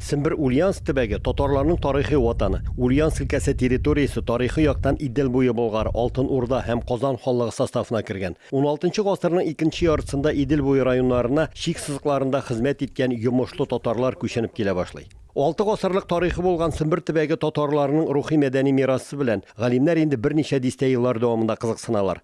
Сембер Ульяновск төбәге, татарларның тарихи ватаны. Ульяновск өлкәсе территориясе тарихи яктан Идел буе Болгар, Алтын Урда һәм Казан ханлыгы составына кергән. Уналтынчы гасырның икенче яртысында Идел буе районнарына чик сызыкларында хезмәт иткән йомышлы татарлар күченеп килә башлый. Алты гасырлык тарихы булган Сембер төбәге татарларының рухи-мәдәни мирасы белән галимнәр инде берничә дистә еллар дәвамында кызыксыналар.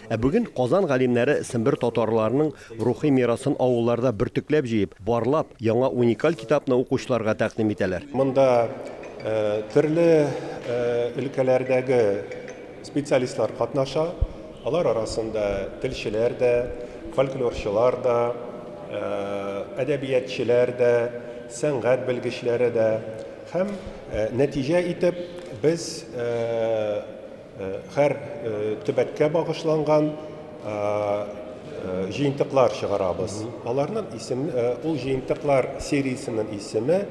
Ә бүген Казан галимнәре сембер татарларының рухи мирасын авылларда бөртекләп җыеп, барлап, яңа уникаль китапны укучыларга тәкъдим итәләр. Монда төрле өлкәләрдәге специалистлар катнаша. Алар арасында телчеләр дә, фольклорчылар да, әдәбиятчеләр дә, сәнгать белгечләре дә. Һәм нәтиҗә итеп без Һәр төбәккә багышланган җыентыклар чыгарабыз. Аларның исем ул җыентыклар сериясенең исеме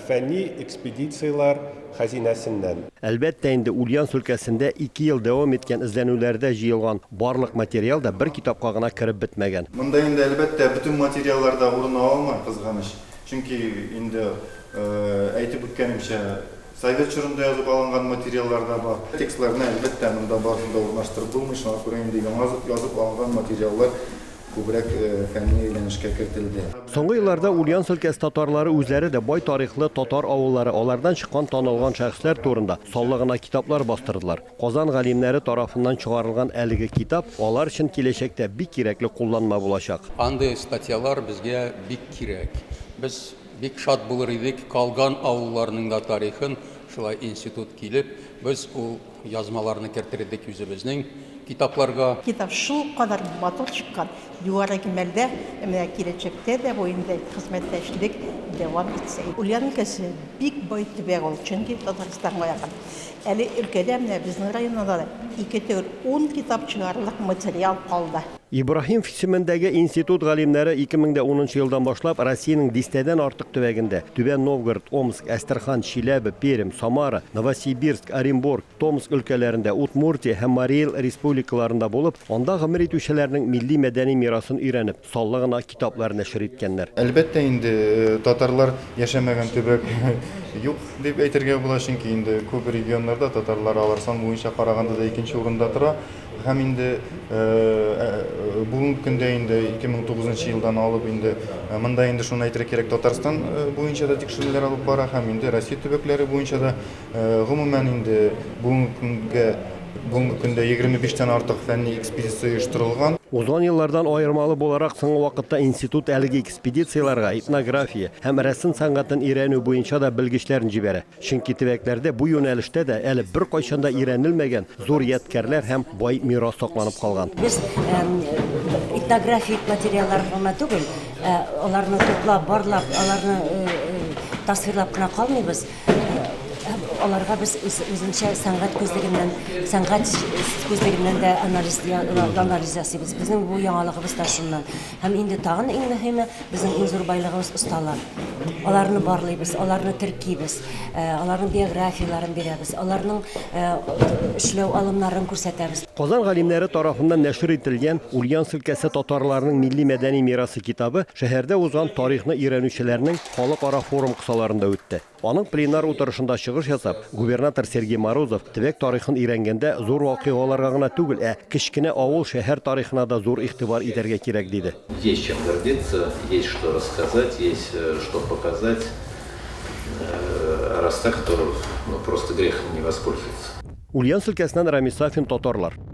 Фәнни экспедицияләр хәзинәсеннән. Әлбәттә инде, Ульяновск өлкәсендә ике ел дәвам иткән эзләнүләрдә җыелган барлык материал да бер китапка гына кереп бетмәгән. Монда инде, әлбәттә, бөтен материаллар да урын ала алмый, кызганыч. Чөнки инде әйтеп үткәнемчә, Совет чорында язып алынган материаллар да бар. Текстларны, әлбәттә, монда барысын да урнаштырып булмый, шуңа күрә инде яңа язып алынган материаллар күбрәк фәнни әйләнешкә кертелде. Соңгы елларда Ульяновск өлкәсе татарлары үзләре дә бай тарихлы татар авыллары, алардан чыккан танылган шәхесләр турында саллы гына китаплар бастырдылар. Казан галимнәре тарафыннан чыгарылган әлеге китап алар өчен киләчәктә бик кирәкле кулланма булачак. Андый статьялар безгә бик кирәк. Без Бик шат булыр идек, калган авылларның да тарихын шулай институт килеп, без ул язмаларны кертер идек үзебезнең китапларга. Китап шулкадәр матур чыккан, югары кимәлдә, менә киләчәктә дә бу инде хезмәттәшлек дәвам итсә. Ульян өлкәсе бик бай төбәк ул, чөнки Татарстанга якын. Әле өлкәдә, менә безнең районда да ике төр ун китап чыгарырлык материал калды. Ибраһимв исемендәге институт галимнәре 2010 нчы елдан башлап Россиянең дистәдән артык төбәгендә, Түбән Новгород, Омск, Әстерхан, Чиләбе, Пермь, Самара, Новосибирск, Оренбург, Томск өлкәләрендә, Удмуртия һәм Марий Эл республикаларында булып, анда гомер итүчеләрнең милли-мәдәни мирасын өйрәнеп, санлы гына китаплар нәшер иткәннәр. Әлбәттә инде, татарлар яшәмәгән төбәк юк дип әйтергә була, чөнки инде күп регионнарда татарлар алар сан буенча караганда да икенче урында тора. Һәм инде бүгенге көндә инде 2009 елдан алып инде монда инде шуны әйтергә кирәк, Татарстан буенча да тикшерүләр алып бара һәм инде Россия төбәкләре буенча да гомумән инде бүгенге көнгә бүгенге көндә 25 тән артык фәнни экспедиция оештырылган. Узган еллардан аермалы буларак, соңгы вакытта институт әлеге экспедицияләргә этнография һәм рәсем сәнгатен өйрәнү буенча да белгечләрен җибәрә. Чөнки төбәкләрдә бу юнәлештә дә әле беркайчан да өйрәнелмәгән зур ядкярләр һәм бай мирас сакланып калган. Без этнографик материаллар гына түгел, ә аларны туплап, барлап, аларны тасвирлап кына калмыйбыз, ә аларга без үзенчә сәнгать күзлегеннән, сәнгать күзлегеннән дә анализ ясыйбыз. Безнең бу яңалыгыбыз да шуннан. Һәм инде тагын иң мөһиме, безнең иң зур байлыгыбыз осталар. Аларны барлыйбыз, аларны теркибез, э, аларның биографияләрен бирәбез, аларның э, эшләү алымнарын күрсәтәбез. Казан галимнәре тарафыннан нәшер ителгән Ульяновск өлкәсе татарларының милли-мәдәни мирасы китабы шәһәрдә узган тарихны өйрәнүчеләрнең халыкара форум кысаларында үтте. Аның пленар утырышында чыгыш ясап, губернатор Сергей Морозов төбәк тарихын өйрәнгәндә зур вакыйгаларга гына түгел, ә кечкенә авыл, шәһәр тарихына да зур игътибар итәргә кирәк, диде. Есть чем гордиться, есть что рассказать, есть что показать. Раз так, то просто грех не воспользоваться. Ульяновск өлкәсеннән Рамис Сафин, татарлар.